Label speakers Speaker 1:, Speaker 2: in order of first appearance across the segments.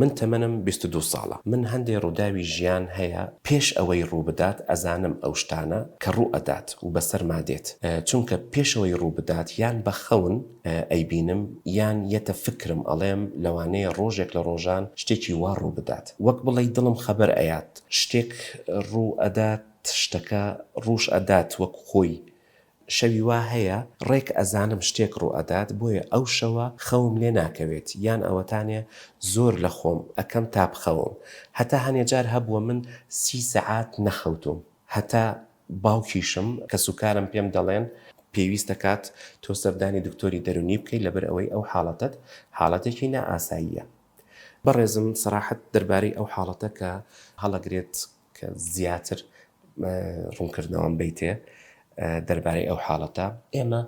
Speaker 1: من تەمەنم بیست و دوو ساڵە من هەندێ ڕوداوی ژیان هەیە پێش ئەوەی ڕوبدات ئەزانم ئەو شتانە کە ڕوو ئەدات و بەسەرما دێت چونکە پێشەوەی ڕوبدات یان بە خەون ئەیبینم یان یەتە فکرم ئەڵێم لەوانەیە ڕۆژێک لە ڕۆژان شتێکی وا ڕوبدات وەک بڵێی دڵم خەبەر ئەیات شتێک ڕوو ئەدات شتەکە ڕوش ئەدات وەک خۆی شەوی وا هەیە ڕێک ئەزانم شتێک ڕووئەدات بۆیە ئەو شەوە خەوم لێ ناکەوێت یان ئەوەتانێ زۆر لە خۆم ئەکەم تا بخەوم هەتا هەنێ جار هەبووە من سی سەعات نەخەوتووم هەتا باوکیشم کەسوکارم پێم دەڵێن پێویستە کات تۆ سەردانی دکتۆری دەرونی بکەی لەبەر ئەوەی ئەو حاڵەتەت حاڵەتێکی نائاساییە بەڕێزم سەراحەت دەربارەی ئەو حاڵەتە کە هەڵەگرێت کە زیاتر ڕوونکردنەوەم بەیتێ دەربارەی ئەو حاڵەتە. ئێمە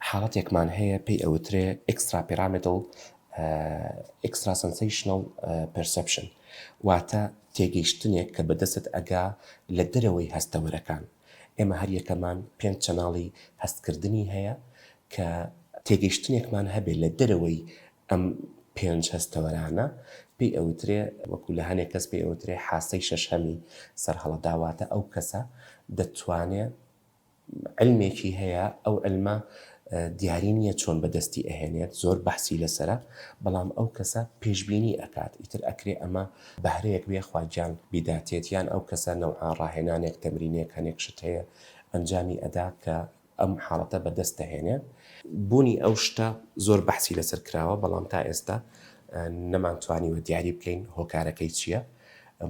Speaker 1: حاڵەتێکمان هەیە پێی ئەوترێ Extrapyramidal Extrasensational Perception واتە تێگەیشتنێک کە بەدەستت ئەگا لە دەرەوەی هەستەوەرەکان. ئێمە هەر یەکەمان پێنج چەناڵی هەستکردنی هەیە کە تێگەیشتنێکمان هەبێ لە دەرەوەی ئەم پێنج هەستەوەرانە پێی ئەوترێ، وەکو لە هەنێ کەس پێی ئەوترێ حاسەی شەشهەمی سەرهەڵەدا، واتە ئەو کەسە دەتوانێ عیلمێکی هەیە، ئەو عیلمە دیاری نییە چۆن بەدەستی ئەهێنێت، زۆر بەحسی لەسەرە، بەڵام ئەو کەسە پێشبینی ئەکات، ئیتر ئەکرێ ئەمە بەهرەیەک بێ خوا گیان بیداتێت، یان ئەو کەسە نەوعا ڕاهێنانێک تەمرینێک هەنێک شت هەیە ئەنجامی ئەدا کە ئەم حاڵەتە بەدەست دەهێنێ. بوونی ئەو شتە زۆر بەحسی لەسەر کراوە، بەڵام تا ئێستا نەمانتوانیوە دیاری بکەین هۆکارەکەی چییە،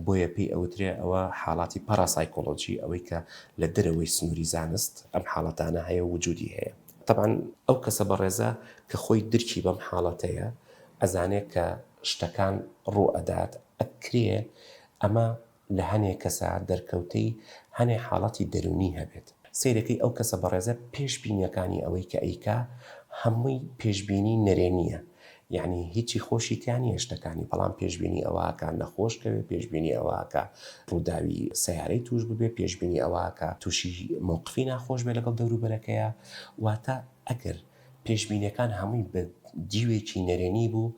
Speaker 1: بۆیە پێی ئەوترێ ئەوە حاڵاتی پاراسایکۆلۆجی، ئەوەی کە لە دەرەوەی سنووری زانست ئەم حاڵەتانە هەیە و وجوودی هەیە. تەبعەن ئەو کەسە بەڕێزە کە خۆی درکی بەم حاڵەتەیە، ئەزانێ کە شتەکان ڕوو ئەدات، ئەکرێ ئەمە لە هەنێ کەسا دەرکەوتەی هەنێ حاڵەتی دەروونی هەبێت سەیرەکەی ئەو کەسە بەڕێزە پێش بینیەکانی ئەوەی کە ئەیکا هەمووی پێش بینی نەرێنیە یەعنی هیچی خۆشی تیا نیە شتەکانی بەڵام پێش بینی ئەوە ئەکا نەخۆش کەوێ پێش بینی ئەوە ئەکا ڕووداوی سەیارەی توش ببێ پێش بینی ئەوە ئەکا توشی مەوقفی ناخۆش بێ لەگەڵ دەوروبەرەکەیا واتە ئەگەر پێشبینیەکان هەمووی بە دیوێکی نەرێنی بوو،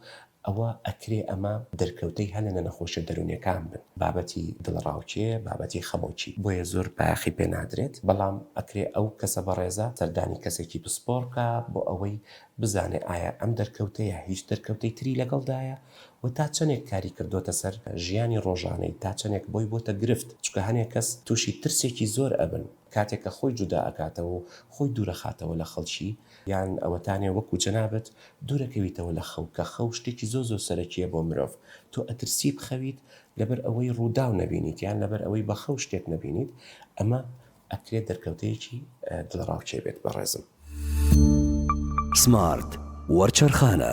Speaker 1: ئەوە ئەکرێ ئەمە دەرکەوتەی هەلە لە نەخۆشیە دەرونیەکان بن، بابەتی دڵەڕاوکێ، بابەتی خەمۆکی، بۆیە زۆر بایەخی پێ نادرێت، بەڵام ئەکرێ ئەو کەسە بەڕێزە سەردانی کەسێکی پسپۆڕ بکا بۆ ئەوەی بزانێ ئایا ئەم دەرکەوتەیە هیچ دەرکەوتەی تری لەگەڵدایە و تا چەنێک کاری کردۆتە سەر ژیانی ڕۆژانەی، تا چەنێک بۆی بۆتە گرفت، چونکە هەنێ کەس توشی ترسێکی زۆر ئەبن، کاتێک کە خۆی جودا ئەکاتەوە و خۆی دوورەخاتەوە لە خەڵکی، یان ئەوەتانێ وەکو جەنابت دوورەکەویتەوە لە خەو، کە خەو شتێکی زۆر زۆر سەرەکیە بۆ مرۆڤ، تۆ ئەترسی بخەویت لەبەر ئەوەی ڕووداو نەبینیت، یان لەبەر ئەوەی بە خەو شتێک نەبینیت، ئەمە ئەکرێت دەرکەوتەیەکی دڵەڕاوکێ بێت بەڕێزم. سمارت وەرچەرخانە.